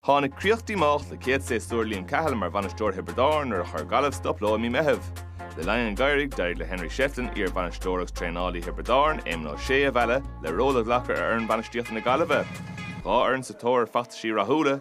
Tháinig críoch díomách le céad séasúr Liam Cahill mar bhainisteoir Thiobraid Árann nuair a chuir Gaillimh stop leo i mí Meitheamh. Le linn an gheimhridh, d'éirigh le Henry Shefflin, iar-bhainisteoir agus traenálaí Thiobraid Árann, Éamon Ó Sé, a mhealladh le ról a ghlacadh ar fhoireann bainistíochta na Gaillimhe. Dhá fhoireann sa tóir ar fheachtais rathúla,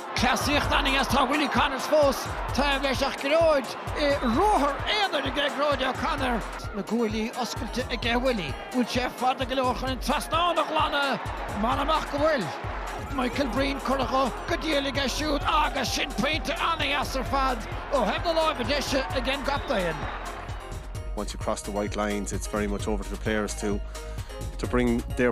Cleasaíocht ana dheas, tá Willie Connors fós taobh leis ach Gearóid ruathar aonair aige, Gearóid O Connor. Na guaillí oscailte aige Willie, bhfuil sé fada go leor chun an trasnán a ghlanadh? M'anam ach go bhfuil. Michael Breen curtha go diail aige siúd agus sin pointe ana dheas ar fad ó thaobh na láimhe deise ag an gcaptaen. once you cross the white lines it's very much over to the players to to bring their.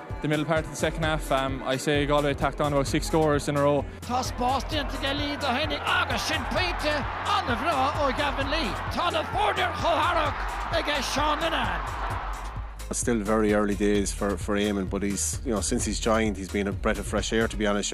the middle part of the second half. Um, I say Galway tacked on about six scores in a row. Tá spás déanta aige Lee do Henning agus sin pointe an-bhreá ó Gavin Lee. Tá na foirne chomh tharrac ag Seán Linehan. Still very early days for, for Eamon, but he's, you know, since he's joined, he's been a breath of fresh air, to be honest.